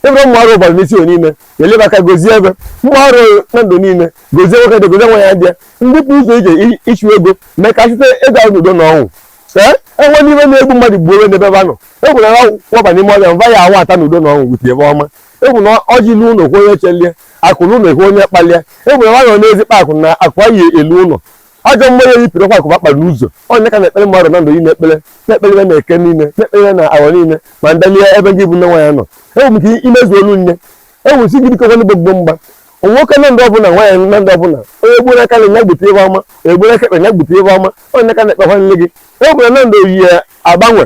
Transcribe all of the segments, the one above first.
ebe ụmụ arọ bara n'isi o niile eleba aka gozie ebe ụmụ arọ na ndụ niile gozie nwoke dị gozie nwaanyị dị ndị pụ ụzọ ije ichu ego mee ka chute ego ahụ n'udo na ọṅụ ee enwe n'ihe na-egbu mmadụ gbuo onwe n'ebe ebe anọ egwu na waba n'ime ọrịa mva ya awa ata n'udo na ọṅụ gbute ebe ọma egwu na ọjị ilu ụlọ kwe onye chelie akụ n'ụlọ ekwe onye kpalie egwu na nwa nọ n'ezi kpa akụ na akụ anyị elu ụlọ ajọ mmụọ ya yipụrụ kwa akụ ba kpara n'ụzọ ọ nya ka na-ekpere mmadụ na ndụ niile ekpere na-ekpere ya na eke niile na-ekpere ya na awọ niile ma ndalie ebe gị bụ nne nwaanyị nọ enwere m ike imezu olu nye enwere si gị biko nwanne gbogbo mgba nwoke na ndụ ọbụla nwaanyị na ndụ ọbụla onye gburu aka nri nya gbute ebe ọma onye gburu aka ekpe nya gbute ebe ọma onye ka na-ekpe nwanne gị enwere na ndụ oyi ya agbanwe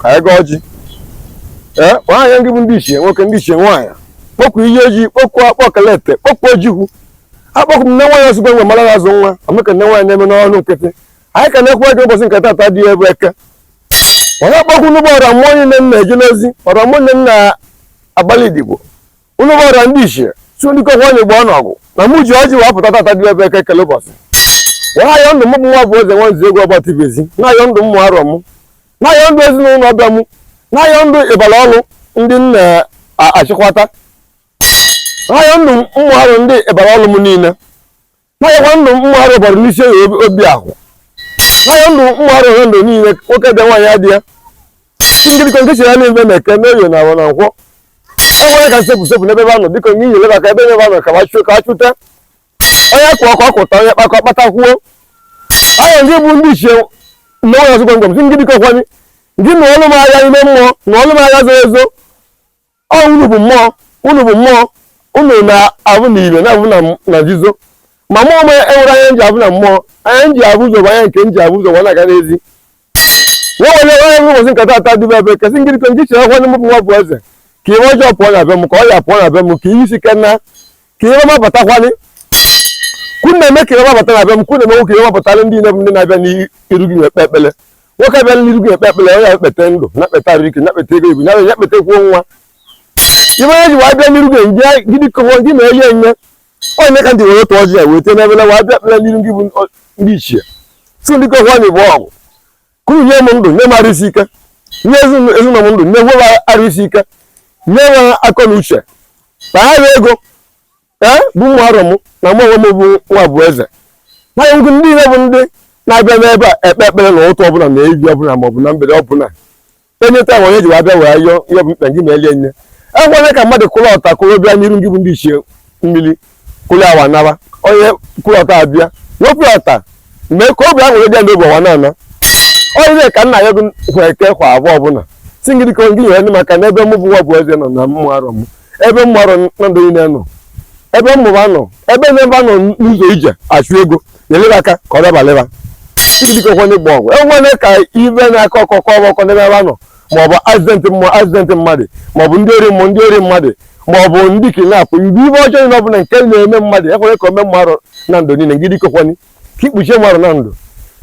ka anyị gaa ọjị ee kpọọ anya ndị bụ ndị ichie nwoke ndị ichie nwaanyị kpọkuo iyi oji kpọkuo akpọ kalete kpọkuo ojukwu akpọkuo m nne nwaanyị ozugbo nwe mara azụ nwa amaka nne nwaanyị na-eme n'ọnụ nkịtị anyị ka na-ekwe gị ụbọchị nke tata dị bụ eke onye akpọkuo unu bụ ọra mmụọ niile m na-eje n'ozi ọra mmụọ niile m na-agbalụ odibo unu bụ ọra ndị ichie si ndị kokwa onye gba ọnọgụ na mụ ji ọjị wee pụta tata dị bụ eke kele ụbọchị were ayọ ndụ m bụ nwabụeze nwa nzegwu ọgba tibezi na-ayọ ndụ ụmụ arọ m na-ayọ ndụ ezinụlọ ọbịa m na-ayọ ndụ ịbara ọrụ ndị m na-achịkwata na-ayọ ndụ ụmụ arọ ndị ịbara ọrụ m niile na-ayọkwa ndụ ụmụ arọ bara n'isi oyi obi ahụ na-ayọ ndụ ụmụ arọ ohe ndụ niile nwoke dị nwaanyị adị ya ngirikọ nke chiri anya n'ebe na eke na oye na awọ na nkwọ enwere ka nsepụ sepụ n'ebe ebe anọ biko nye inyere aka ebe ebe anọ ka achụ ka achụta onye kụọ ka ọ kụta onye kpa ka ọ kpata kwuo ahụ ndị bụ ndị ichie na ụlọ ọzụgwọ ngọm si ngirikọ kwanye ndị na ọlụ m agha ime mmụọ na ọlụ m agha zoro ezo ọ unu bụ mmụọ unu bụ mmụọ unu na-avụ na ive na-avụ na nzuzo ma mụ onwe m enwerọ anya m ji avụ na mmụọ anya m ji avụ ụzọ bụ anya nke m ji avụ ụzọ na-aga n'ezi nwa onye onye nwe ụbọchị nke tata dị bụ eke sị ngịrịkọ nke chere nwanne m bụ nwabụeze ka ihe ọjọọ pụọ na be m ka ọya pụọ na be m ka ihe isi ike na ka ihe ọma batakwanụ ka unu na-eme ka ihe ọma bata na be m ka unu na-emekwu ka ihe ọma batara ndị nne m ndị na-abịa n'iru gị ekpe ekpele nwoke abịa n'iru gị ekpe ekpele onye ekpete ndụ na-ekpete arụ ike na-ekpete ego ibu na-ekpetekwuo nwa ihe onye ji wee bịa n'iru gị ndị gị dịka nwa gị na-enye enye ọ nya ka m ji were otu ọjị ya wee tee n'evele wee bịa ekpele n'iru gị bụ ndị ichie si ndị kọhwa na igbo ọgwụ ka unu nye m ndụ nye m arụ isi ike nye ezinụlọ m ndụ nye nwe arụ isi ike nye nwe akọ na uche na ha ya ego ee bụ ụmụ arọ m na mụ onwe m bụ nwabụeze na ndị niile bụ ndị na-abịa n'ebe a ekpe ekpere na ụtụtụ ọbụla na evivie ọbụla maọbụ na mgbede ọbụla onye taa onye ji wee bịa wee yọọ ihe bụ mkpa gị ma elie nne ekwene ka mmadụ kụrụ ọta kụrụ bịa n'iru ndị bụ ndị ichie mmiri kụrụ awa nara onye kụrụ ọta abịa wepụ ọta mee ka obi aṅụrị bịa n'obi ọwa na-ana ọ nye ka m na-ayọ gị kwa eke kwa awọ ọbụla si ngị dịka ngị nyere m aka na ebe mụ bụ nwa bụ eze nọ na ụmụ arọ m ebe ụmụ arọ na ndụ niile nọ ebe mmụba nọ ebe na-ebe nọ n'ụzọ ije achụ ego nyeli be aka ka ọ dabalị ba idikọkwanye gba ọgwụ ekwene ka ibe na-akọ ọkọkọ ọkọ n'ebe ebe nọ maọbụ accident mmụọ accident mmadụ maọbụ ndị ori mmụọ ndị ori mmadụ maọbụ ndị kidnap mgbe ibe ọjọọ niile ọbụla nke na-eme mmadụ ekwene ka o mee mmadụ na ndụ niile ngị dikọkwanye ka ikpuchie mmadụ na ndụ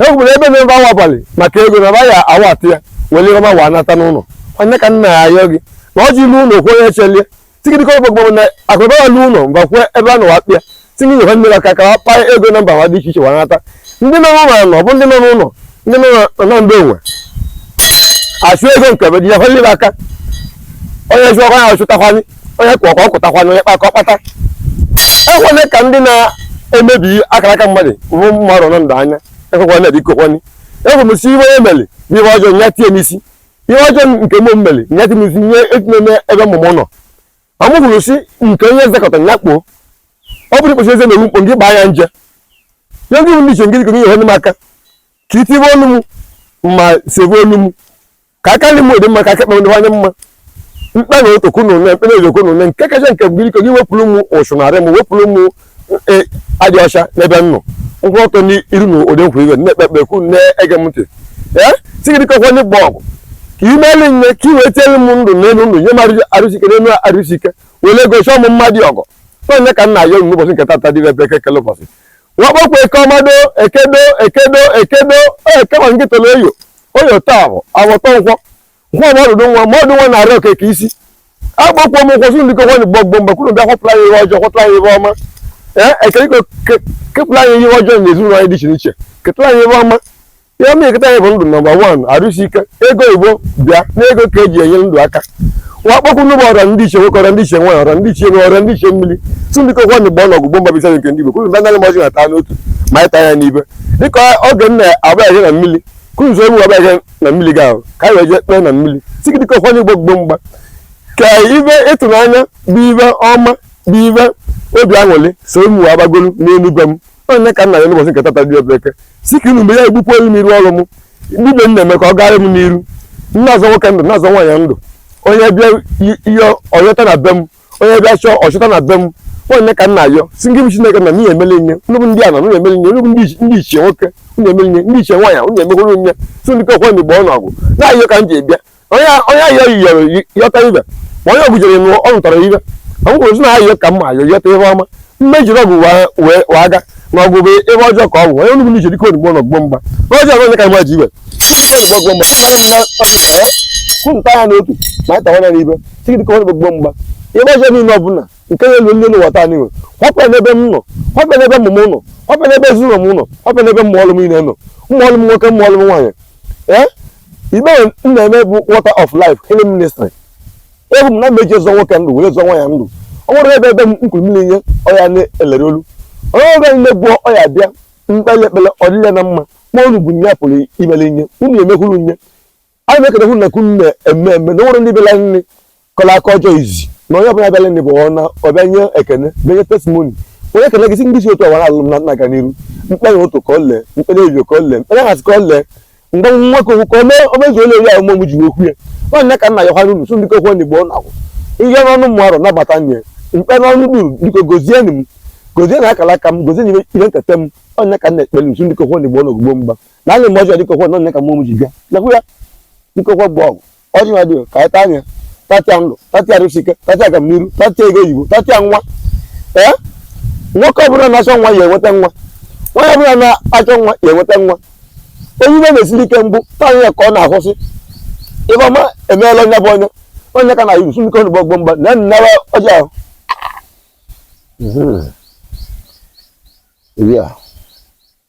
ekwere ebe na-ebe awaghalị maka ego na ya awa atụ ya were ọma wa anata n'ụlọ ọ nye ka m na-ayọ gị na ọjị lue ụlọ o kwuo onye chelie si gị dịkọ gbogbo na akụnụba ya lu ụlọ mba kwue ebe a nọ wa kpata nye nyewa mmiri aka ka wa kpaa ego na mba nwa dị iche iche wanata ndị nọ n'ụlọ anọ bụ ndị nọ n'ụlọ ndị nọ na ndị onwe achụ ego nke be dịnyekwa mmiri aka onye chụọkwa ya ọ chụtakwa nye onye kụọ ka ọ kụtakwa nye onye kpaa ka ọ kpata ekwene ka ndị na-emebi akara aka mmadụ bụ mmadụ nọ ndụ anya ekwekwana bikokwanị ekwemesi ihe o meli bụ ihe ọjọọ ya tie n'isi ihe ọjọọ nke mụ meli nye tie n'isi nye etinye n'ebe ụmụ m nọ ma mụ hụrụ si nke onye ezekọta ya kpoo ọ bụrụ ikpesi eze na-eru mkpo gị gbaa ya nje nye ndị ichie ngịrịgo ihe ọnụ m aka ka itibe ọnụ m ma sebe ọnụ m ka aka nri m dị mma ka aka ekpe m dịwanye mma mkpe na otokwu na ụne mkpe na ajọ okwu na ụne nke kacha nke bụ ngịrịgo gị wepụrụ m ụchụ n'arụ m wepụrụ m e, adị ọcha n'ebe m nọ m kwụ ọtọ n'iru unu ụdị nkwa iwe na-ekpe ekpere ka unu na-ege m ntị ee si gị dịkọkwa ndị gba ọgụ ka ị meeli nye ka ị wee tiere m ndụ n'elu ndụ nye m arụsike n'elu arụsike were ego chọọ m mma dịkọ ọ nye ka m na-ayọ unu ụbọchị nke tata dị ebe eke kele ụbọchị wa kpọkwa eke ọmado ekedo ekedo ekedo onye kama nke tọrọ oye oye tọ awọ awọ tọ nkwọ nwa m ọdụdụ nwa ma ọdụ nwa na-eri oke ka isi akpọkuo m oku sị unu dịkọkwanị gbọ gbọ mgba ka unu bịa kwapụla anyị ihe ọjọọ kwapụla anyị ihe ọma ee ekele ikpe ke- kepụla anyị ihe ọjọọ na ezinụlọ anyị dị iche n'iche ketala anyị ihe ọma ihe ọma eketa anyị bụ ndụ number one arụsi ike ego igbo bịa n'ego ka eji enyere ndụ aka wa akpọku unu bụ ọra ndị ichie nwoke ọra ndị ichie nwaanyị ọra ndị ichie ụnọ ọra ndị ichie mmiri si unu dịkọkwanị gbọ nụ ọgụ gbọ mgba bisa nke ndị igbo ka unu bịa naanụ m ọjị a taa n'otu ma anyị taa ya n'ibe dịka oge m na-abaya na mmiri ka unu so m abaya na mmiri gị ahụ ka anyị wee jee kpee na mmiri si gị dịkọkwanye gbọ gbọ mgba ka ibe ịtụnanya bụ ibe ọma bụ ibe obi aṅụrị so m wee gbagolu n'enu be m ọ nye ka m na-ayọ n'ụbọchị nke tata dị ebe eke si ka unu mgbe ya egbukwa olu m iru ọrụ m ibe m na-eme ka ọ gaara m n'iru m na-azọ nwoke ndụ na-azọ nwaanyị ndụ onye bịa ihe ọ yọta na be m onye bịa chọọ ọchọta na be m ọ onye ka m na-ayọ sọ ngị bụ chineke na n'ihe emele nye unu bụ ndị ana unu emele nye unu bụ ndị ichi- ndị ichie nwoke unu emele nye ndị ichie nwaanyị unu emekwuru nye si ndị kekwe ndị gboo n'ọgụ na-ayọ ka m ji bịa onye onye ayọ yọrọ yi- yọta ibe ma onye ọgụ jere nụ ọ nụtara ibe ọ bụrụ si na ayọ ka mma ayọ yọta ihe ọma mmejiri ọgụ wee- wee wee aga na ọgụ bụ ebe ọjọọ ka ọ bụ onye unu bụ ndị ichie dike onugbo n'ọgụ gboo mgba n'ọjọọ bụ onye ka mma ji ibe onugbo ọgụ gboo mgba ka unu taa ya n'otu ma anyị tawa ya n'ibe si gị dike ọ gbogbo mgba ihe ọjọọ niile ọbụla nke na-elu ndị n'ụwa taa n'iwe họpụ ya n'ebe m nọ họpụ ya n'ebe ụmụ m nọ họpụ ya n'ebe ezinụlọ m nọ họpụ ya n'ebe ụmụ ọlụ m niile nọ ụmụ ọlụ m nwoke ụmụ ọlụ m nwaanyị ee ibe m na-eme bụ water of life healing ministry ebu m na m eji zọ nwoke ndụ were zọ nwaanyị ndụ ọ nwere ebe ebe m nkwuru mmiri nye ọya na-elere olu onye ọbụla niile gwụọ ọya bịa m kpele ekpele ọ dịle na mma ma unu bụ nye pụrụ imere nye unu emekwuru nye anyị na-ekele hụ na ka unu na-eme eme na nwere ndị bịara nri kọrọ akụkọ ọjọọ izi na onye ọbụla bịara nri bụ ọna ọ bịa nye ekene bịa nye testimoni onye ekele gị si ndị si otu awara alụ m na nna aga n'iru m kpere ụtụtụ ka ọ lee m kpere ejo ka ọ lee m kpere hazi ka ọ lee mgbe nwa ka okwu ka o mezuo ole eri ahụ mụ ji okwu ya ọ onye ka m na-ayọ hwara unu so ndị kokwu ndị gboo na-agwụ ihe n'ọnụ mụ arụ nabata nye mkpe n'ọnụ duru biko gozie m gozie na akara aka m gozie na ihe nketa m ọ onye ka m na-ekpere sọ ndị kokwu ndị gboo na ọgụ gboo mgba na anyị mgbe ọjọọ dike ọkwa na onye ka mmụọ m ji bịa nakwu ya dike ọkwa gboo ọgụ ọjị ha dịo ka anyị taa ya tatịa ndụ tatịa arụsike tatịa agamniru tatịa ego oyibo tatịa nwa ee nwoke ọbụla na-achọ nwa ya enweta nwa nwaanyị ọbụla na-achọ nwa ya enweta nwa onye ibe na-esiri ike mbụ taa ya ka ọ na-ahụsị ibe ọma emeela onye bụ onye onye ka m na-ayọ sọ dike ọnụ gbogbo mgba na nnara ọjị ahụ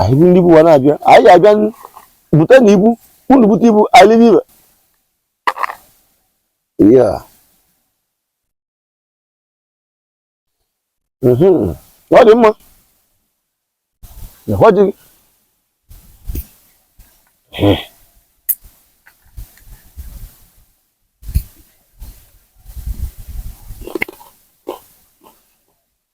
anyị bụ ndị ibu wa na-abịa anyị abịa bute na ibu unu bute ibu anyị libe ibe ya mhm. ọ dị mma ọ dị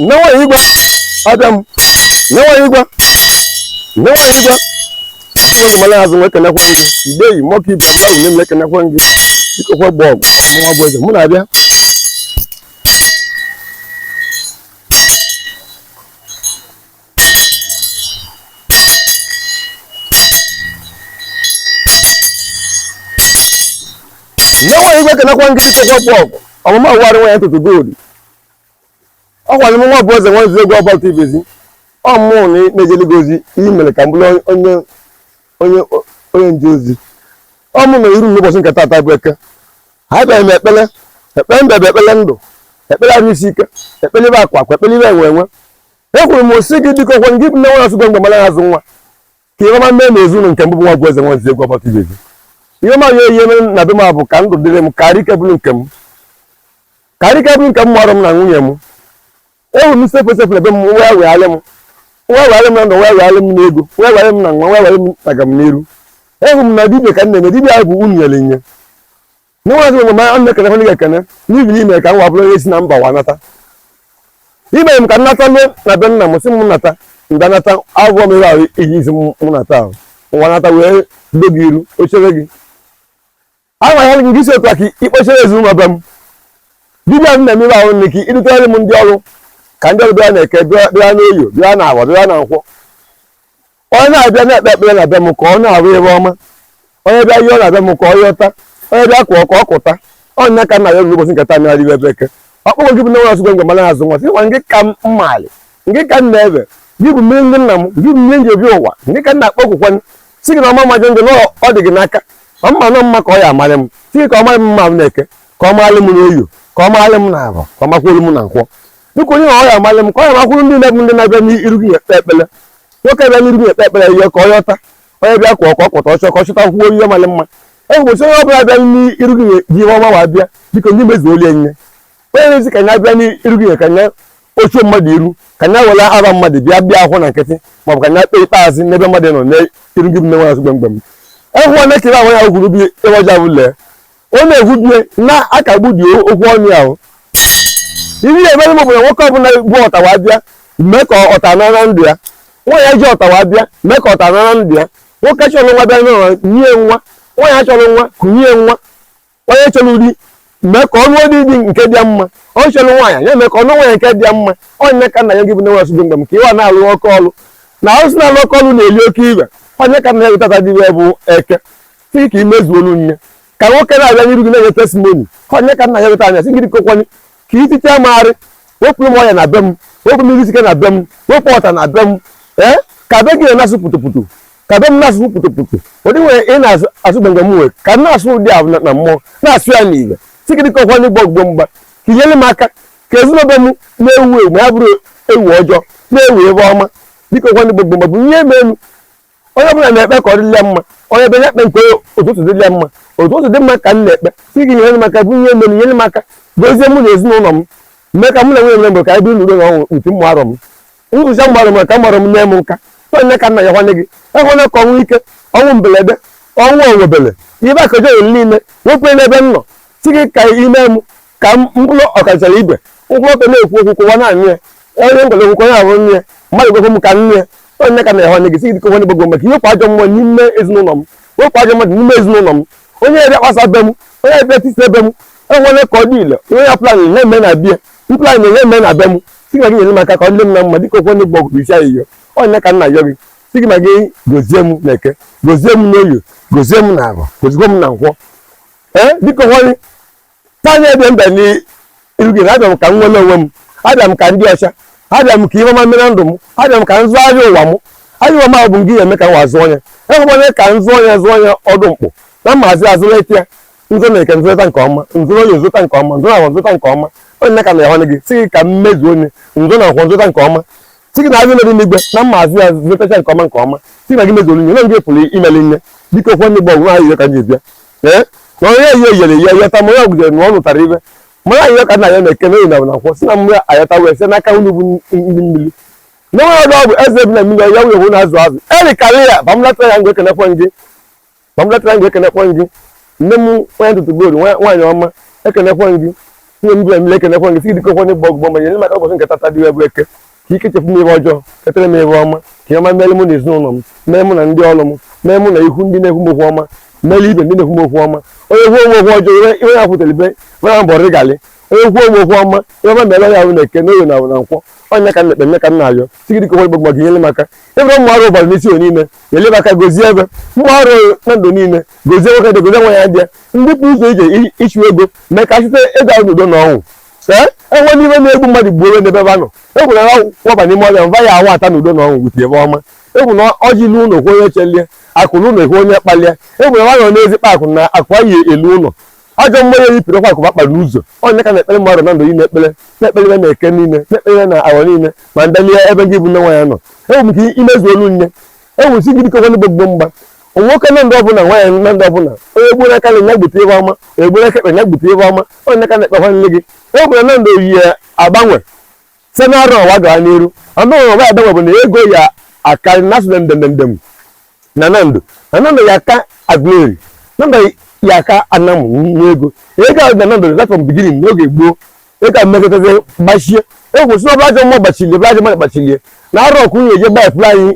nwa igwe abịa m nwa igwe nwa igwe ụmụ mara azụ nwe kenekwa gị mgbe yi mọka ibe mmadụ nye m ekenekwa gị dike ọkwa gboo ọgụ mụnwa bụ eze mmụọ na-abịa nyewe igwe kenekwa ndị ichekwa pọp ọmụma ụwarị nwa ya tụtụ gold ọ kwa m nwabueze nwa egwu ọba dị be gị ọ mụ na-ejeli gị ozi i mere ka m bụrụ onye nje ozi ọ mụ mere iru n'ụbọchị nke taata bụ eke abịara m ekpele ekpele mbe bụ ekpele ndụ ekpele arụ isi ike ekpele ibe akwa akwa ekpele ibe enwe enwe ekwuru m sị gị biko ọ kwa gị bụ nne nwa asụgwe mgbe mara azụ nwa ka ihe ọma mee na ezinụlọ nke m bụ nwabueze nwa egwu ọba dị be gị ihe ọma ya ihe na be m bụ ka ndụ dịrị m ka arụ ike bụrụ nke m ka arụ ike bụrụ nke m mụọrọ m na nwunye m ewu m sekwe sekwe ebe m nwa wegharị m nwa wegharị m na ndụ nwa wegharị m n'ego nwa wegharị m na nwa nwa wegharị m na agamniru ewu m na dibia ka m na-eme dibia bụ unu nyere nye n'ụlọzi ụlọ ma ana m ekene gị ekene n'ihi na i mee ka mwa bụrụ onye si na mba wa nata i mere m ka m nata luo na be nna m sị m nata mgbe nata agwọ m ebe ahụ iji isi m nata ahụ nwa nata wee do gị iru ochere gị agwa ya gị sị otu a ka i kpochere ezinụlọ be m dibịa m na-eme ebe ahụ nne ka i dutere m ndị ọrụ ka ndị ọrụ bịa n'eke bịa n'oye bịa n'afọ bịa na nkwọ onye na-abịa na-ekpe ekpere na be m ka ọ na-ahụ ihe ọma onye bịa yọọ na be m ka ọ yọta onye bịa kụọ ka ọ kụta ọ nya ka m na-ayọ unu ụbọchị nke taa mmiri ibe eke ọ kwa gị bụ nne nwa asụgwe mgbe mara azụ nwa sị nwa nke ka m malị nke ka m na-ebe gị bụ mmiri ndị nna m gị bụ mmiri m ji ebi ụwa nke ka m na-akpọkukwa sị gị na ọma majọ njọ na ọ dị gị n'aka ma mma nọ mma ka ọ ya amarị m sị gị ka ọ marị m mma n'eke ka ọ marị m n'oye ka ọ marị m n'afọ ka ọ makwuolu m na nkwọ biko onye na ọ ya amarị m ka ọ ya makwuru ndị na-ebu ndị na-abịa n'iru gị ekpe ekpele nwoke bịa n'iru gị ekpe ekpere yọọ ka ọ yọta onye bịa kụọ ka ọ kụta ọ chọọ ka ọ chọta kwuo ihe mara mma e ụbọchị onye ọbụla bịa n'iru gị ji ihe ọma wa bịa biko ndị mezuolie nye onye na-asị ka nya bịa n'iru gị ka nya ochuo mmadụ iru ka nya were aha mmadụ bịa bịa ahụ na nkịtị maọbụ ka nya kpee ikpe azụ n'ebe mmadụ nọ n'iru gị bụ nne nwa azụ gbamgbam ehụ nwa na-ekere ahụ ya gwuru bi ebe ọja bụ lee ọ na-ekwubie na-akagbu dị okwu ọnụ ya o ihe ị ya-emere m bụ na nwoke ọbụla bụ ọtawa bịa mee ka ọta nara ndụ ya nwaanyị ji ọtawa bịa mee ka ọta nara ndụ ya nwoke chọrọ nwa bịa n'ụwa nye nwa nwaanyị chọrọ nwa kunye nwa onye chọrọ di mee ka ọ nụ di di nke dị mma onye chọrọ nwaanyị ya mee ka ọ nụ nwaanyị nke dị mma ọ nya ka m na-ayọ gị bụ nwa asụdị mgbe m ka ịwa na-alụ oke ọlụ na arụsị na-alụ oke ọlụ na-eli oke ife ọ nya ka m na-ayọ gị taata dị bụ eke sị ka i mezuolu m ya ka nwoke na-abịa n'iru gị na-enye testimoni ka ọ nya ka m na-ayọ weta anya sị gị biko kwanye ka itite magharị wepụ m ọya na be m wepụ mmiri sike na be m wepụ ọta na be m ee ka be gị na-asụ pụtụpụtụ ka be m na-asụ pụtụpụtụ ụdị nwere ị na-asụ gbengbe m nwere ka m na-asụ ụdị ahụ na mmụọ na-asụ ya n'igwe sị gị biko kwanye gbogbo mgba ka i nyere m aka ka ezinụlọ be m na-ewu ewu ma ya bụrụ ewu ọjọọ na-ewu ebe ọma biko kwanye gbogbo mgbe bụ ihe eme elu onye ọbụla na-ekpe ka ọ dịrị ya mma onye bịa ekpe nke ụtụtụ dịrị ya mma ụtụtụ dị mma ka m na-ekpe sị gị nyere m aka bụ ihe mere nyere m aka gozie mụ na ezinụlọ m mee ka mụ na nwunye m mee ka anyị biri n'udo na ọṅụ uti mma arọ m nzụcha mgbarụ m ka mgbarụ m nye m nka ọ nya ka m na-ayọ nwanne gị ekwela ka ọnwụ ike ọnwụ mberede ọnwụ onwebele ibe akaja olu niile wepụ n'ebe m nọ sị gị ka i mee m ka mkpụrụ ọkachara ibe mkpụrụ ọka na-ekwu okwu kụwa naanị ya onye ngwere okwu onye ahụ nne mmadụ gwekwe m ka nne onye ka na-ehe onye gị sị gị dịka onye gbogbo maka i wepụ ajọ mmụọ n'ime ezinụlọ m wepụ ajọ mmadụ n'ime ezinụlọ m onye ebe kpasa be m onye ebe tisa be m ekwena ka ọ dị ile onye ya plan na-eme na be m plan na-eme na be m sị gị nyere m aka ka ọ dị m na mma dịka okwu onye gbogbo sị ayịyọ ọ nya ka m na-ayọ gị sị gị ma gị gozie m na eke gozie m n'oye gozie m na afọ gozikwa m na nkwọ ee dịka onye tanya ebe m bịa n'iru gị na abịa m ka m nwere onwe m abịa m ka m dị ọcha abịa m ka ihe ọma mee na ndụ m abịa m ka m zụọ ahịa ụwa m ahịa ụwa m ahụ bụ ngị eme ka m wa zụọ onye enwere onye ka m zụọ onye zụọ onye ọdụ mkpụ na mmazi azụrụ eke ya m zụọ na eke m zụta nke ọma m zụọ n'oye m zụta nke ọma m zụọ na afọ m zụta nke ọma ọ nya ka m na-ayọ gị sị gị ka m mezuo onye m zụọ na afọ m zụta nke ọma sị gị na azụ nọdị n'igwe na mmazi ya zụtacha nke ọma nke ọma sị gị na gị mezuo onye na gị pụrụ ime ihe niile biko kwe ndị gbọgwụ ahụ ka m ji bịa ee na onye ihe yere ihe yọta ma onye ọgụdere na ọ nụtara ibe mara ayịyọ ka m na-ayọ n'eke na oye na afọ na nkwọ sị na mmiri ayọta wee site n'aka unu bụ ndị mmiri na onye ọdụ ọgwụ eze bi na mmiri ya nwunye hụ na azụ azụ eri karịa ya bamlatara ya ngwa ekenekwe gị bamlatara ngwa ekenekwe gị nne m onye ntụtụ goolu nwaanyị ọma ekenekwe gị nne m bi na mmiri ekenekwe gị si dịka okwenye gbọ ọgụgbọ ma nyere m aka ụbọchị nke tata dị ebe eke ka i kechepụ m ihe ọjọọ ketere m ihe ọma ka ọma mere mụ na ezinụlọ m mee mụ na ndị ọrụ m mee mụ na ihu ndị na-ekwu m okwu ọma mere ibe ndị na-ekwu m okwu ọma onye kwuo m okwu ọjọọ ihe ya kwutere ibe mara mbọ rịgalị onye kwuo m okwu ọma ihe ọma mere ya ahụ n'eke n'oye na na nkwọ ọ nya ka m na-ekpe nya ka m na-ayọ sị gị biko gbogbo gị nyere m aka ebe ụmụ arụ ụbara n'isi onye niile nyere m aka gozie ebe mmadụ na ndụ niile gozie nwoke dị gozie nwaanyị dị ndị pụrụ ụzọ ije ịchụ ego mee ka site ego ahụ n'udo na ọṅụ ee ekwena ihe na-egbu mmadụ gbuo onwe n'ebe ba nọ egwu na ya waba n'ime ọhịa mba ya awata na udo na ọṅụ bute ihe ọma e kwu na ọjị luo ụlọ onye chelie akụ luo ụlọ e kwuo onye kpalie e kwu na nwanyị n'ezi kpa akụ na akụ anyị elu ụlọ ajọ mmanya yi pịrịkwa akụ ba kpara ụzọ ọ nya ka m na-ekpere mmadụ na ndụ niile ekpere na-ekpere na eke niile na-ekpere na afọ niile ma ndalie ebe gị bụ nne nwanyị nọ enwere m ike imezuolu m ya ewusi gidi kekwa ndị gbogbo mgba nwoke na ndị ọbụla nwaanyị na ndị ọbụla onye gburu aka nni nya gbute ive ọma egburu aka ekpe nya gbute ive ọma onye aka na-ekpekwa nne gị e gwara na ndụ anyị agbanwe site na arọ ọwa gaa n'iru anụghị ọwa agbanwe bụ na ego ya akarị na asụ ndem ndem na nando na nando ya aka Aguleri nando ya aka Anam n'ego ego a na nando na from beginning n'oge gboo ịka mmekọtazi gbachie ekwesịrị ọbụla ajọ mmụọ gbachilie bụla ajọ mmadụ gbachilie na arọ ọkụ nwunye je gbafuru anyị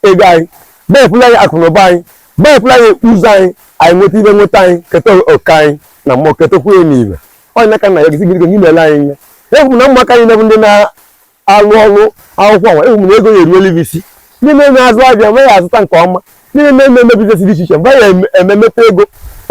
ego anyị gbafuru anyị akụ na ụba anyị gbafuru anyị ụzọ anyị anyị nweta ibe nweta anyị keta oke anyị na mmụọ ketakwu ya n'ibe ọ na ka nna ya gị sị gị gị meela anyị ihe ekwuru na ụmụaka anyị na-ebu ndị na alụ ọrụ akwụkwọ nwa ewu m na ego ya eruola isi ndị na-eme azụ avịa nwa ya azụta nke ọma ndị na-eme eme biznes dị iche iche mgbe ya ememeta ego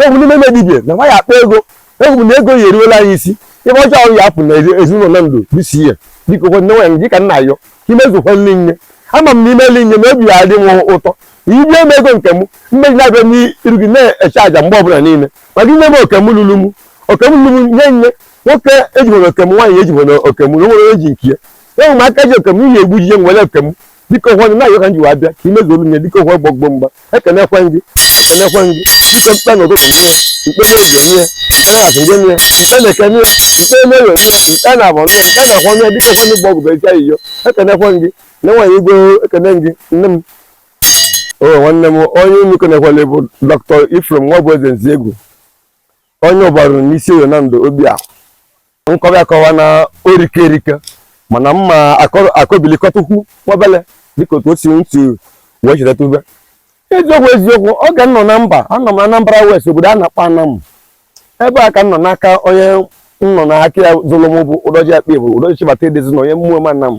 ewu m ndị na-eme dibia na nwa ya akpa ego ewu m na ego ya eruola anyị isi ive ọjọọ ọrụ ya apụ na ezinụlọ na ndụ bisi ya dịka ụfọdụ nwa ya dịka na-ayọ imezukwa nri nye ama m na imeli nye na obi ya adị m ụtọ ibie m ego nke m mmeji na-abịa n'iru gị na-eche aja mgbe ọbụla niile maka inye m oke m lulu m oke m lulu m nye nye nwoke ejibona oke m nwaanyị ejibona oke m na onwere onye ji nke ya enwe m aka ji oke m ihe egbu jije nwere oke m dịka ụfọdụ na-ayọ ka m ji wee abịa ka imezu olu nye dịka ụfọdụ gbọgbọ mgba ekenekwe gị ekenekwe gị dịka m kpe na ụtụtụ nye m kpe na-eji nye m kpe na azụ nye m kpe na eke nye m kpe na oye nye m kpe na avọ nye m kpe na nkwọ nye dịka ụfọdụ gbọ ọgụ beja iyo ekenekwe gị na nwaanyị igwe ekene gị nne m o nwanne m onye unu kenekwala bụ dọkịta Ephraim Nwabụeze Nzegwu onye ụbarụ n'isi oyo na ndụ obi ahụ nkọwa akọwa na orike erike mana mma akọbilikọtukwu nwabele dịka otu o si ntị wee chidata ube eziokwu eziokwu oge m nọ na mba anọ m na Anambra West obodo a na-akpọ Anam ebe a ka m nọ n'aka onye m nọ n'aka ya zụrụ m bụ ụdọji akpa bụ ụdọji chibata edezi na onye Ụmụem Anam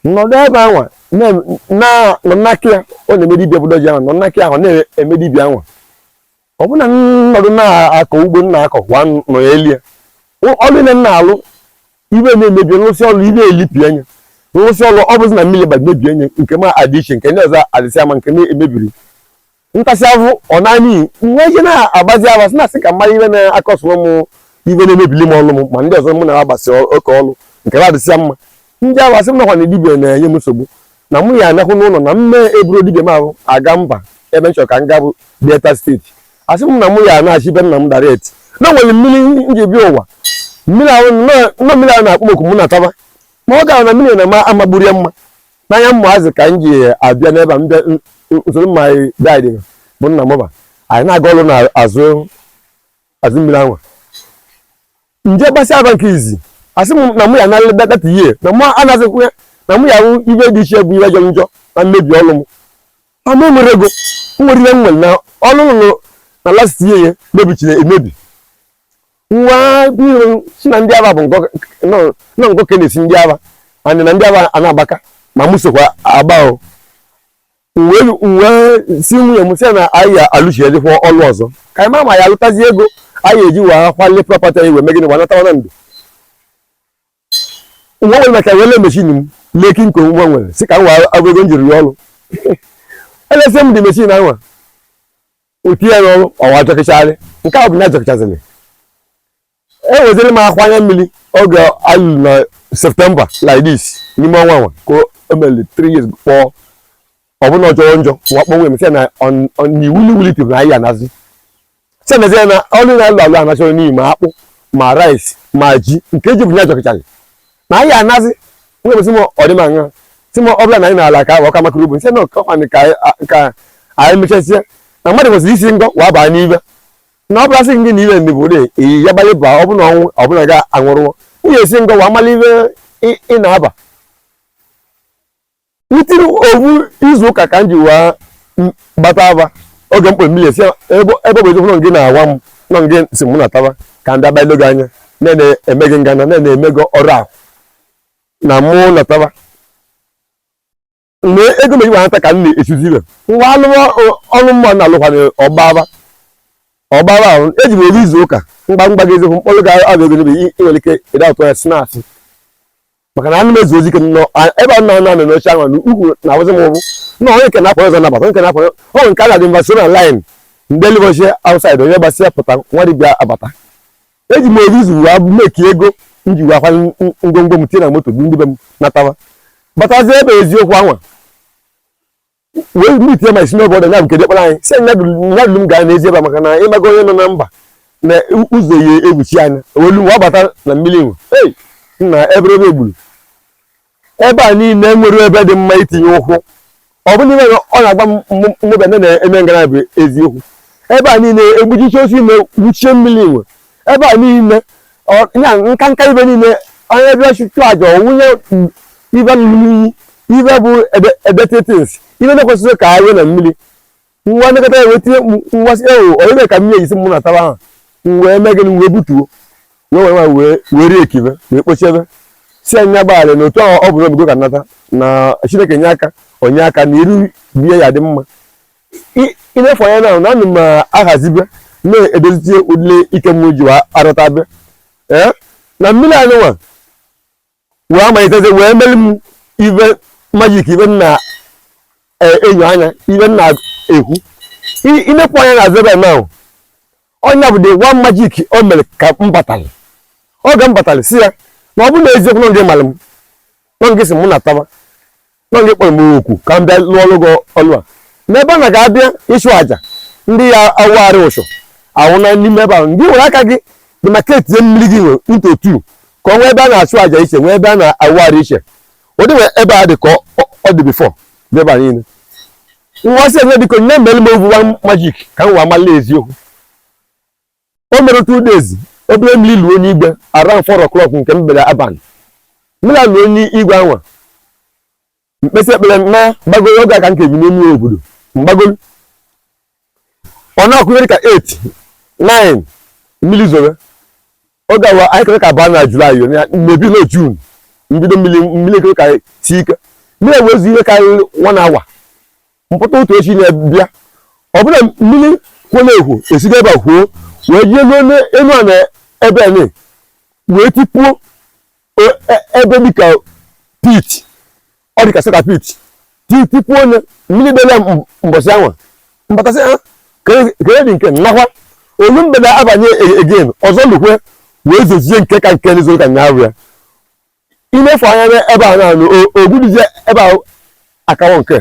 nọdụ ebe anwa nọ n'aka ya ọ na-eme dibia ụdọji ahụ nọ n'aka ahụ na-eme dibia anwa ọ bụ na m nọdụ na-akọ ugbo na-akọ kwa nọ ya elie ọrụ niine m na-alụ ive na-emebi m rụsịa ọrụ ive elipịa nya m rụsịa ọrụ ọ bụzi na mmiri gbara mebie nya nke m adị iche nke ndị ọzọ adịsịa mma nke na-emebiri ntasị ahụ ọ naanị nwa ihe na-agbazi ava sị na-asị ka mmadụ ive na-akọsụrụ m ive na-emebili m ọrụ m ma ndị ọzọ mụ na ha gbasịrị oke ọrụ nke na-adịsị mma ndị ahụ asị m nakwa na dibia na-enye m nsogbu na mụ ya anahụ n'ụlọ na mme eburu dibia m ahụ aga mba ebe m chọrọ ka m ga bụ delta steeti asị m na mụ ya anachi be nna m direct na nwere mmiri m ji bịa ụwa mmiri ahụ nọ mmiri ahụ na-akpọ m oku mụ nataba ma ọ gara na mmiri na ma amagburu ya mma n'anya mmaazị ka m ji abịa n'ebe a m bịa soro my daddy bụ nna mụba anyị na-aga ọrụ n'azụ azụ mmiri anwa nje gbasịa aba nke izizi asị m na mụ ya narị data ihe na mụ anazịkwa na mụ ya hụ ibe dị iche bụ ibe jọrọ njọ na mmebi ọlụ m ama nwere ego nwere ihe nwere na ọlụ m lụrụ na last year ya mebichiri emebi nwa biro si na ndị aba bụ nọ ngọ ka na-esi ndị aba anyị na ndị aba a na-agbaka ma mụ sokwa agba o wee si nwunye m sị na anyị ya alụchiedịkwa ọlụ ọzọ ka anyị ma ma ya alụtazi ego anyị eji wee akwali property anyị wee megide wee natawa na ndụ nwa nwere maka wele machine m lady nke nwa nwere si ka m wee abụ ego m jiri ya ọrụ elesi m lady machine anwa o tinye ya n'ọrụ ọwa jọkịchagharị nke a bụ na jọkịchazịrị eweziri m akwa anya mmiri oge alụ na September like this n'ime ọnwa nwa ka o mere three years kpọọ ọ bụ na ọ jọọ njọ wa kpọ nwunye m sị na n'iwu na iwulite na anyị anazi sị na zie na ọlụ na-alụ alụ anachọrọ n'ihi ma akpụ ma rice ma ji nke eji bụnye ajọkịchara na anyị anazi nwunye m sị m ọ dị mma nha sị m ọ bụla na anyị na-ala ka ọ ka makara ugbo sị na ọkọkwanị ka anyị mechazie na mmadụ kwesịrị isi ngọ wa baa n'ibe na ọ bụla sị gị na ibe ndị bụ dị iyi ya banye ba ọ bụla ọnwụ ọ bụla ga anwụrụwo ihe esi ngọ wa amala ibe ị- ị na-aba within obu izu ụka ka m ji wee m- gbata aba oge mkpụrụ mmiri esi ebe ebe ọ bụ eziokwu na ọ gị na-agwa m na ọ gị sị mụ nataba ka ndị abalị gị anya na-eme gị ngana na-eme gị ọrụ ahụ na mụ nataba mgbe ego meji nwata ka m na-echezi ibe m ga-alụwa ọrụ mụ na-alụkwana ọgba aba ọgba aba ahụ eji m obu izu ụka mgba mgba gị eziokwu mkpọrọ ga abụ ego n'ebe nwere ike ịda ụtọ ya snaasị maka na anụ m ezu ozi ike nọ ebe a nọ na anọ n'oche ahụ na ukwu na-abụzi m ụbụ na onye nke na-apụ ọzọ na-abata nke na-apụ ọ nke a ga-adị mba so na line ndị elibọchie outside onye gbasịa pụta nwa dibịa abata eji m obu izu wee make ego m ji wee akwanye ng- ngwongwo m tinye na moto bu ndị be m natawa batazie ebe eziokwu anwa wee meet ya ma isi n'obodo ya bụ nke dịkpara anyị si nya dulu m gaa n'ezi ebe a maka na ịmaga onye nọ na mba na ụzọ ya egbuchi anya olu nwa bata na mmiri nwe ei nna ebe ebe egburu ebe a niile enwerọ ebe dị mma itinye ụkwụ ọ bụrụ na iwe ọ na-agba mmụba ndị na-eme ngara bụ eziokwu ebe a niile egbuchiche osi ime gbuchie mmiri nwe ebe a niile ya nka nka ibe niile onye bịa chụchụ aja ọ wụnye ibe inyi ibe bụ dirty things ibe na-ekwesịrị ka awe na mmiri nwa nekọta ya wee tie mkpu nwa si ewu onye mere ka mmiri ji sị mụ nataba ahụ m wee mee gịnị wee butuo wee were nwa wee wee rie ekibe wee kpochebe sị nya gbaghara na otu ahụ ọ bụ n'obigo ka nata na chineke nye aka o nye aka na iru be ya dị mma I- i nefu anya na na anụ m ahazibe na-edozitie ụdịlị ike m ji wee arụta be ee na mmiri anụnwa wee amalitezi wee mere m ive magic ive m na-enyo anya ive m na-ekwu I- i nekwu anya na azụ ebe ahụ ọ nya bụ the one magic o mere ka m batara oge m batara sị ya na ọ bụ na eziokwu nọ gị mara m nọ gị sị mụ nataba nọ gị kpọrọ m okwu ka m bịa lụọlụ gị ọlụ a n'ebe a na ga-abịa ịchụ àjà ndị ya-awụgharị ụchụ awụna n'ime ebe ahụ gị were aka gị demarcate mmiri gị nwa into two ka ọ nwee ebe a na-achụ àjà iche nwee ebe a na-awụgharị iche ọ dịnwe ebe a dị ka ọ dị before n'ebe a niile nwa sị nya biko nya mere m ovu magic ka m wee amala eziokwu o mere two days obere mmiri luo enu igwe around four o'clock nke mgbede abalị mmiri luo enu igwe anwa m kpesịa ekpere na gbagoro oge aka nke bi n'elu obodo mgbagoro ọ na-akụ ihe ra ka 8 9 mmiri zobe oge awa anyị kere ka aba na July maybe na June mbido mmiri mmiri kere ka si ike mmiri wee zoo ihe karịrị one hour m pụta ụtụtụ echi na-abịa ọbụla mmiri kwuo na-ekwo esiga ebe a kwoo wee jee ruo n'elu a na ebe ni wee tipuo e- e- ebe dịka pit ọ dịka saka pit tipuo onye mmiri bịara m- mbọsị anwa m batasịa kere dị nke nakwa o luo mgbede abanị e- again ọzọ lukwe wee zozie nke ka nke n'izu ụka nyaahụ ya i nefu anya n'ebe a na-anụ ogbudizie ebe ahụ akawo nke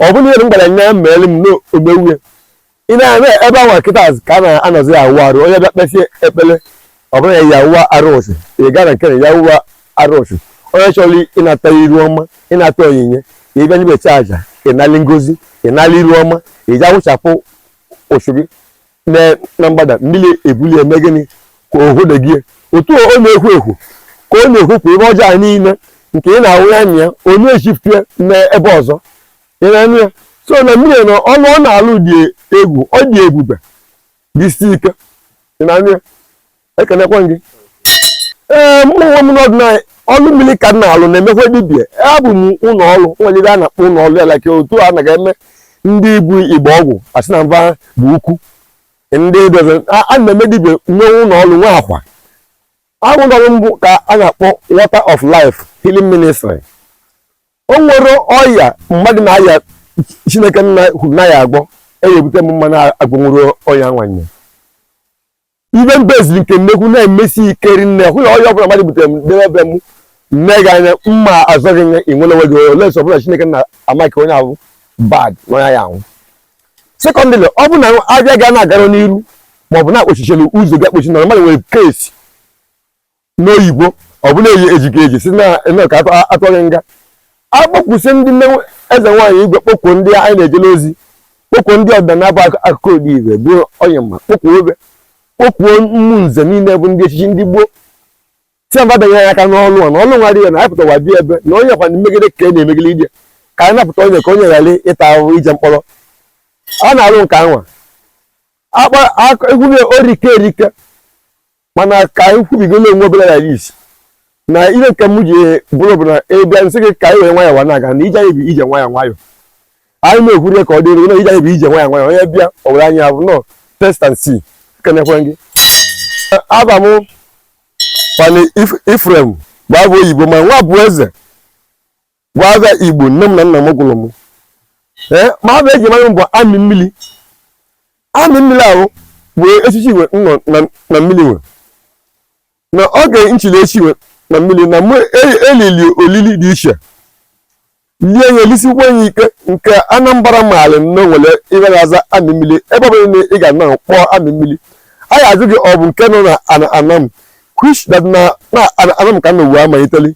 ọ bụrụ ihe m gwara nya mere m n'ogbewuye ị na-eme ebe ahụ kịta ka a na-anọzi ya awụ arụ onye bịa kpesie ekpele ọ bụrụ ya ya wụwa arụ sị ya gaa na nke na ya wụwa arụ sị onye chọrọ ịnata iru ọma ịnata onyinye ka ị bịa n'ebe a chụa aja ịnali ngozi ịnali iru ọma iji awụchapụ ụchụ gị na mgbada mmiri ebulu ya eme gịnị ka o hụdegie otu ọ na-ekwo ekwo ka ọ na-ekwokwa ive ọjọọ anyị niile nke ị na-awụ ya anya ya o na-echifue n'ebe ọzọ ị na-anụ ya so na mmiri na ọlụ ọ na-alụ dị egwu ọ dị ebube dị isi ike ị na-anụ ya ekenekwa gị ee mụ onwe m n'ọdịnala ọlụ mmiri ka m na-alụ na-emekwa dibia abụ m ụlọ ọrụ nwere ive a na-akpọ ụlọ ọrụ ya like otu a na-eme ndị bu igbe ọgwụ asị na mba bụ ukwu ndị dozi a a na-eme dibia nwee ụlọ ọrụ nwe akwa ahụ ụlọ ọrụ m ka a na-akpọ water of life healing ministry o nwerọ ọya mmadụ na-aya chineke nna kwuru na a ya-agwọ ebute m ma mụ agwọnwurọ ọya nwanyị ive mba eziri nke nnekwu na-emesi ike rinne bụ ọya ọbụla mmadụ butere m debe ebe m nee gị anya mma azọ gị nye i nwere onwe gị unless ọ bụ na chineke nna amaka onye ahụ bad na onye ya-anwụ secondly ọ bụ na avịa gị ana-agarọ n'iru maọbụ na akpọchichelu ụzọ gị akpọchi na mmadụ nwere case n'oyibo ọ bụ na eji eji gị eji si na eme ka atọ- atụ gị nga akpọkusi ndị nne eze nwaanyị igwe kpọkuo ndị anyị na-ejele ozi kpọkuo ndị ọdịnala bụ akụ- akụkọ ụdị igwe bụ onye mma kpọkuo obe kpọkuo mmụ nze niile bụ ndị echichi ndị gboo sị va banye ya aka n'ọlụ a na ọlụ nwa dị ya na anyị pụtawa bịa ebe na onye kwa mmegide ka a na-emegide ije ka anyị napụta onye ka onye ghara ịta ahụhụ ije mkpọrọ a na-alụ nke anwa akpa aka- egwu na orike erike mana ka anyị kwubigolo onwe obere ya isi na ihe nke m ji bụrụ bụ na ị bịa m sị gị ka anyị were nwayọọ na-aga na ije anyị bụ ije nwayọọ nwayọọ anyị na-ekwuri ka ọ dịrị na ije anyị bụ ije nwayọọ nwayọọ onye bịa o were anya vụ na ọ test and see kenekwe gị ava m Ifeanyi Ephraim bụ ava oyibo ma Nwabueze Bụ ava Igbo nne m na nna m gụrụ m ee ma ava e ji mara m bụ amị mmiri amị mmiri ahụ bụ echichi nwe nọ na- na mmiri nwe na oge m chiri echi nwe na mmiri na mụ e- elili olili dị iche lie ya elisikwa ya ike nke anambra maara na e nwere ihe na-aza amị mmiri ebe ọbụla na ị ga na kpọọ amị mmiri a ga-ajụ gị ọ bụ nke nọ na ana anam which that na na ana anam ka a nọ wee amaliteli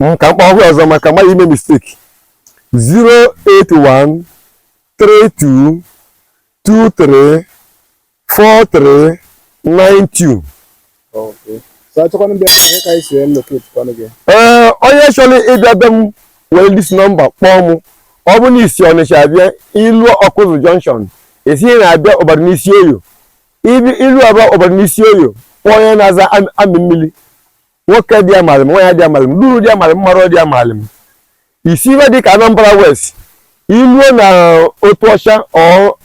Mm, ka m kpọọ ọhụrụ ọzọ maka mmadụ ime mistake 081 32 23 43 92 Okay. So achọkwana ndị ahụ ka anyị si locate kwanụ gị. ee eh, onye chọrọ ịbịa be m were this number kpọọ m ọ bụrụ na i si ọnịcha abịa i luo Ọkụzụ junction ị sị ị na-abịa Ubarunisioye i luo uba- Ubarunisioye kpọọ onye na-aza amị mmiri nwoke dị amalị m nwaanyị dị amalị m luru dị amalị m mara dị amalị m i si ebe dị ka Anambra West i luo na Otuocha or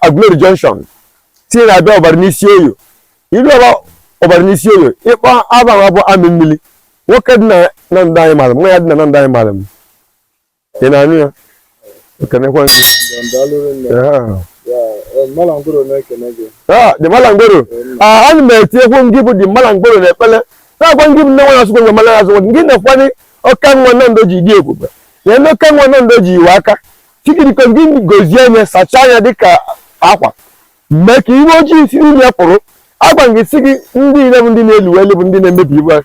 Aguleri Junction sị ị na-abịa Ubarunisioye i luo uba- Ubarunisioye ị kpọọ ava bụ amị mmiri nwoke dị na Nando anyị mara m nwaanyị dị na Nando anyị mara m ị na-anụ ya ekenekwa gị dị malangoro ana m etinyekwu ngị bụ dị malangoro na ekpele na-agwa ngị bụ nne nwa asụkwe mala azụ ngị na-ekwanye ọka nwa na ndo ji dị ebube ya na ọka nwa na ndo ji iwe aka chikiriko ngị gozie anya sachaa anya dịka akwa mee ka iwe ojii si n'ime pụrụ agwa gị si gị ndị ire bụ ndị na-elu elu bụ ndị na-emebi ihe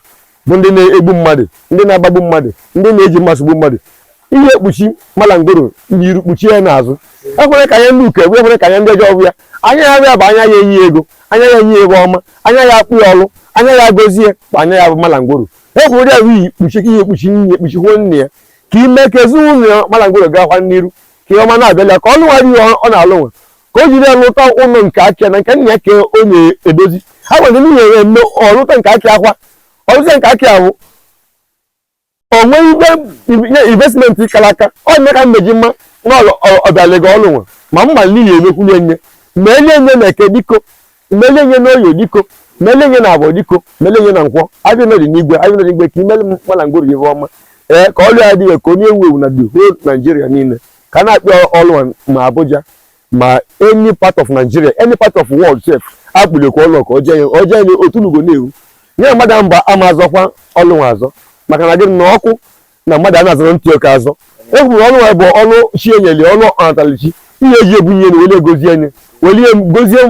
bụ ndị na-egbu mmadụ ndị na-agbagbu mmadụ ndị na-eji mmasị gbu mmadụ ihe ekpuchi malangoro n'iru kpuchie ya n'azụ ekwere ka anya ndị uke hụ ekwere ka anya ndị ọjọọ hụ ya anya ya ahụ ya bụ anya ya enye ego anya ya enye ihe ọma anya ya akpọ ya ọlụ anya ya gozie bụ anya ya bụ malangoro ekwere ụdị ahụ iyi kpuchi ka ihe ekpuchi nne ekpuchikwuo nne ya ka ime ka ezinụlọ ya malangoro gaakwa n'iru ka ihe ọma na-abịala ka ọlụ nwere ihe ọ na-alụ nwe ka o jiri ya lụta ụlọ nke aka na nke nna ya ka o na-edozi ha nwere ndị nyere mme ọ lụta nke aka akwa ọ lụta nke aka ahụ o nwee ihe investment kara aka ọ na ka mmeji mma na ọbịalega ọlụ nwe ma mma niile mekwuli nye mele nye na eke diko mele nye n'oye diko mele nye na afọ diko mele nye na nkwọ ahịa nọ dị n'igwe ahịa nọ dị n'igwe ka i mele m malangoro ihe ọma ee ka ọlụ ya adịghị ka onye ewu ewu na the whole Nigeria niile ka a na-akpọ ya ọlụ a ma Abuja ma any part of Nigeria any part of world sef akpọlekwa ọlụ ka ọjọọ ya ọjọọ ya na otu lugo na-ewu nye mmadụ mba ama azọkwa ọlụ nwa azọ maka na gịnị na ọkụ na mmadụ a na-azọrọ ntị oke azọ e kwuru ọlụ ya bụ ọlụ chi nyeli ọlụ ọ natali chi ihe eji ebunye na wele gozie nye welie gozie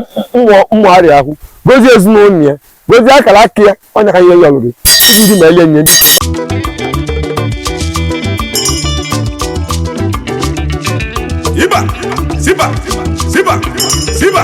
mmụ arịa ahụ gozie ezinụlọ ya gozie akara aka ya ọnya ka ihe ya ọlụrụ ndị mele nye Ziba! Ziba! Ziba! Ziba!